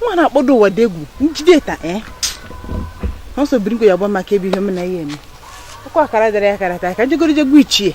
nwa na-akpọdo ụwa dị egwu njide ta eh? ọ sọ biri ya gba maka ebe ihe m na ihe eme ọkwa akara dara ya akara taa ka jegoro jegbu ichie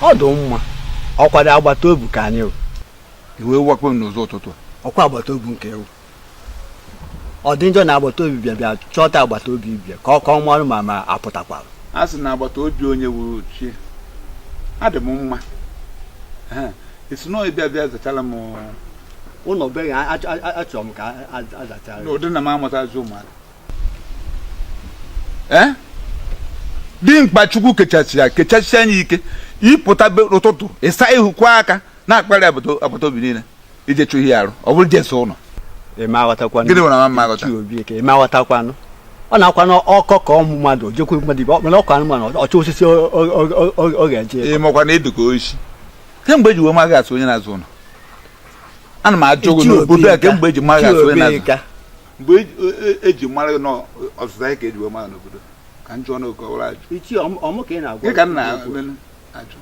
ọ dị mma ọkwado agbata obi ka anyị wụ ị wee wakpo m n'ụzọ ụtụtụ a ọkwa agbata obi nke ewu ọ dị njọ na agbata obi bịa bịa chọta agbata obi bịa ka ọ mara ma ma apụtakwara a sị na agbata obi onye wụ chi ya adị m mma ị sị na ị bịa bịa zachala m ụlọ be achọrọ m ka azachara n'ụdị na m amụtazi ụmụaka ee eh? dimkpa chukwu kechasịa kechasịa nye ike ịpụta ụtụtụ ịsa ihu kwa aka na-akpagharị agbata obi niile ije chụ ihe arụ ọ bụrụ jesi ụlọ ịmaghọtakwanụ ọ na-akwa na ọkọ ka ọmụ mmadụ jekwu mmadụ ibe mana ọkọ anụmanụ ọchọ osisi ọ ga-eje ịmakwa na ịdụka oisi kemgbe eji wee ma gị as onye na-aza ụlọ ana m ajụ gị n'obodo a kemgbe eji ma gị as onye na-aza mgbe eji e, e mara na ọzịza gị ka eji wee mara n'obodo ka njọ na okọwara ajụ gị ka nna ajụ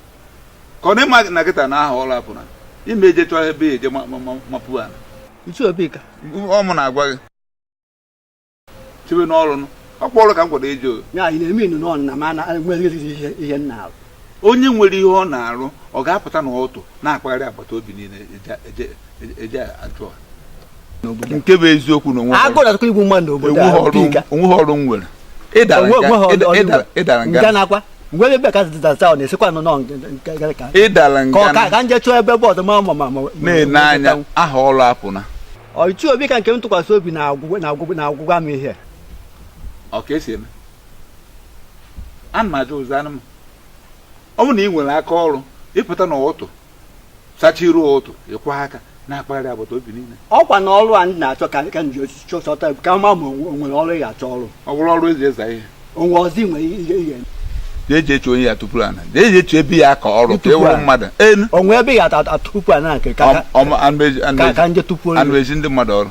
ka ọ na ịma na kịta na aha ọrụ apụna ime eje chọọ ebe ya eje mapụ ala ọ mụ na-agwa gị chebe n'ọrụ ọkpọ ọrụ ka m gwanụ eji o onye nwere ihe ọ na-arụ ọ ga-apụta na ụtụ na-akpagharị agbata obi niile eje ajụ a. nke bụ eziokwu na onwe agụ na-atụkọ igbu mmadụ n'obodo a obi nka. onweghị ọrụ m nwere ịdara Onwe- nga- onweghị ọrụ- ịda- ọrụ ịdara- igwe. ịdara Nga nga na-akwa mgbe ebe ka zụta taụn esikwa nọ nọ nke- nke- nke- ka ịdara ka ọ ka nga ka nje chọọ ebe bụ ọzọ ma ma ma ma na-ene anya aha ọrụ apụna ọchụ obi ka nke m tụkwasị obi na-agwụ gwa m ihe ọ ka esi eme ana m ajụ zaanụ m ọ bụrụ na ị nwere aka ọrụ ịpụta na ụtụ sacha iru ụtụ ịkwa aka na-akpagharị agbata obi niile ọkwa na ọrụ a ndị na-achọ ka ka m ji osisi chọta ka ma ma o nwere ọrụ ya achọ ọrụ ọ bụrụ ọrụ eji eza ihe onwe ọzọ nwere ihe ihe jee jee chụọ onye ya tupu ana jee jee chụọ ebe ya ka ọrụ ka Tupu ịwụrụ ana. mmadụ enu onwe ebe ya ata- ata tupu a na-aka ka ka- ka ka ndị tupu anụ ezi ndị mmadụ ọrụ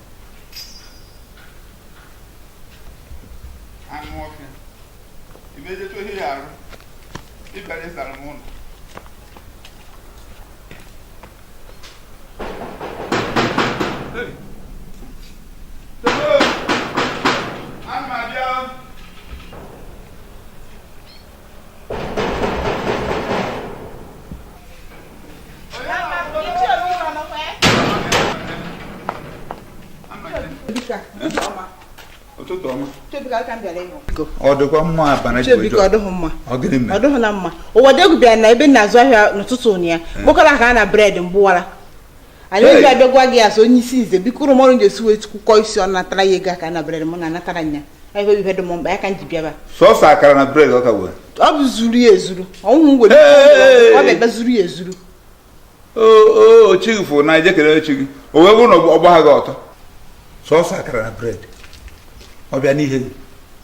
anụ ọfịa imejecha ohi ya arụ ịbịara ịzara m ụlọ Hey! Hello! Ana m abịa ụtụtụ ọma ọ dịkwa mma abana Chibuike ọ dịghị mma ọ gịnị mere ọ dịghị na mma Ụwadiegwu bịara na ebe m na-azụ ahịa n'ụtụtụ ụnyaahụ kpokọrọ akara na bred m gbuwara anyị oji abịa gwa gị asụ onye isi nze biko ụrụ mọrụ ga-esi wee kwukọ isi ọnụ natara ya ego akara na bred m na anatara ya ebe ihe dị m mkpa ya ka m ji bịaba sọsọ akara na bred ọka wee ọ bụ zuru ya ezuru ọnwụ m were ọ ga-ebe zuru ya ezuru o chi gị fụ na ije kene chi gị o wee bụrụ na ọ gbaha gị ọtọ sọsọ akara na bred ọ bịa n'ihe gị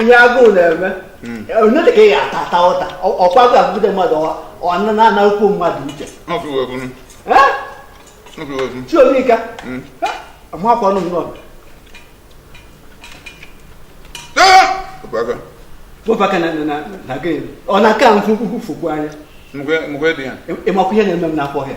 ihe agụụ na-eme hmm. onye ka ị ga-ata ata ụta ọkwa agụụ gụgide mmadụ ọ na-anakwu mmadụ uche chiomika hmm. amakwa ọnụ nnọọ bụbaka na gịnị ọ na-aka m fụ fụkwu anya ịmakwa ihe na-eme m n'afọ ọhịa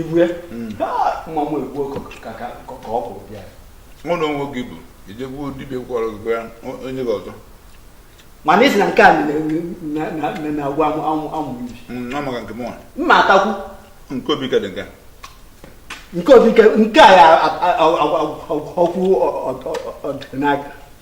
ibue hmm. mmanwụ egbu ka ọ kwụrụ bịa mụ na onwe gị bụ i je gbuo dibịa gwọrọ gị gwa onye gị ọzọ mana isi na nke a na-agwa amụrụ ibi hmm, maka nke mụnwa mma atakwu nke obi ka dị nke nke obi nke a ya ọkwụ ọdịnaka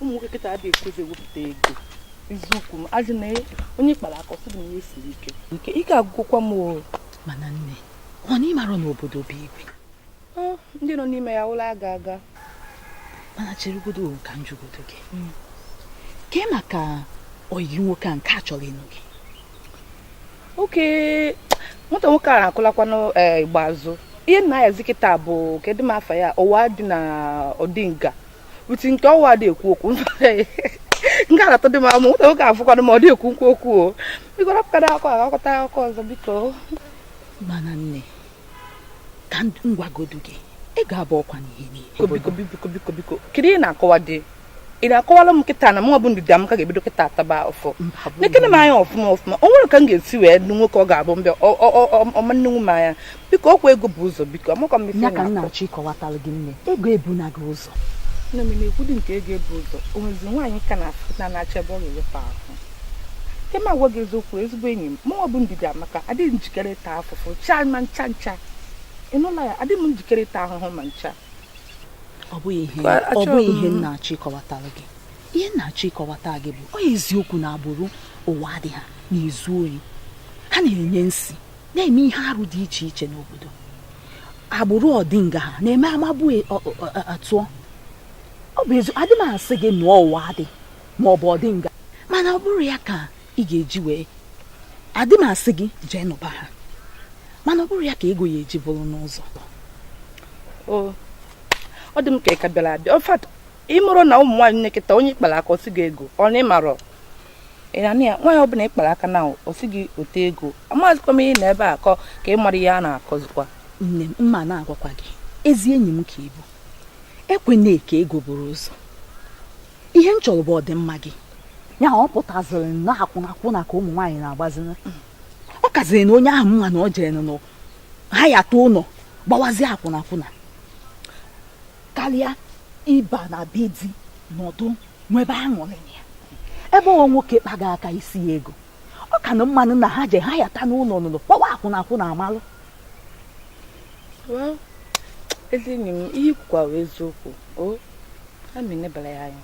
ụmụ nwoke kịta adịghị ekwezi ewepụta ego eziokwu m ajụ na onye kpara aka ọ sị na ihe siri ike ike ike agwụkwa m o mana nne ọ na ị mara na obodo bụ igwe ndị nọ n'ime ya ụlọ aga aga mana cheregodo ka m jụgodo gị hmm. kee maka oyi gị nwoke a nke a chọrọ ịnụ gị okay nwata nwoke a na-akụlakwanụ eh, igba azụ ihe nna ya zi kịta bụ kedu m afa ya ụwa dị na ọdịnga uti nke ọwa dị ekwu okwu nke aratọ dị m ama nwata nwoke afụkwanụ ma ọ dị ekwukwu okwu o biko rapụkara akọ agakọta akụkọ ọzọ biko mana nne ka m gwagodu gị ị ga-abụ ọkwa n'ihe niile biko biko biko biko kedu ihe ị na-akọwadị ị na-akọwara m kịta na mụnwa bụ ndidiamaka ga-ebido kịta ataba afụfụ nekene m anya ọfụma ọfụma o nwere ka m ga-esi wee nụ nwoke ọ ga-abụ mbe ọ ma nenwu m anya biko ọkwa ego bu ụzọ biko amakwa m ife m na-achọ ịkọwatara gị nne ego ebuna gị ụzọ ụtọ nne m na-ekwudi nke ego ebu ụzọ o nwezi nwaanyị ka na-afụ na na-achọ ebe ọ ga-ewepụ ahụ nke m agwa gị eziokwu ezigbo enyi m mụnwa bụ ndidiamaka adịghị m njikere ịta afụfụ chaa ma ncha ncha ị nụla ya adịghị m njikere ịta ahụhụ ma ncha ọ bụghị ihe Ba- ọ achọrọ bụghị m- ihe m na-achọ ịkọwatara gị ihe m na-achọ ịkọwata gị bụ ọ eziokwu na agbụrụ ụwa adị ha na-ezu oyi ha na-enye nsi na-eme ihe arụ dị iche iche n'obodo agbụrụ ọdịnga ha na-eme amagbu e, atụọ ọ bụ ezi adị m asị gị nụọ ụwa adị ma ọ bụ ọdịnga mana ọ bụrọ ya ka ị ga-eji wee adị m asị gị jee nụba ha mana ọ bụrọ ya ka ego ya-eji buru n'ụzọ ọ dị m ka ị ka bịara abịa ị marọ na ụmụ nwaanyị kịta onye ị kpara aka ọ sị gị ego ọ na ị marọ ịnanị ya nwaanyị ọbụla ị kpara aka na ọ sị gị wote ego amazikwa m ihe na ebe a kọ ka ị mara ihe a na-akọzikwa nne m mma na-agwakwa gị ezi enyi m ka ị bụ ekwena ka ego buru ụzọ ihe m chọrọ bụ ọdịmma gị ya ọ pụtaziri na akwụnakwụna ka ụmụ nwaanyị na-agbazi ọ kazirinụ onye ahụ mma na ọ jere nụ ha yata ụlọ gbawazie akwụnakwụna karịa ịba na be di nọdụ nwebe aṅụrị na ebe ọ nwoke kpaga aka ị sị ya ego ọ kanụ mmanụ na ha je ha yata n'ụlọ n'ụlọ kpọwa akwụnakwụna amalụ ezi enyi m i kwukwara eziokwu o ka m nebara ya anya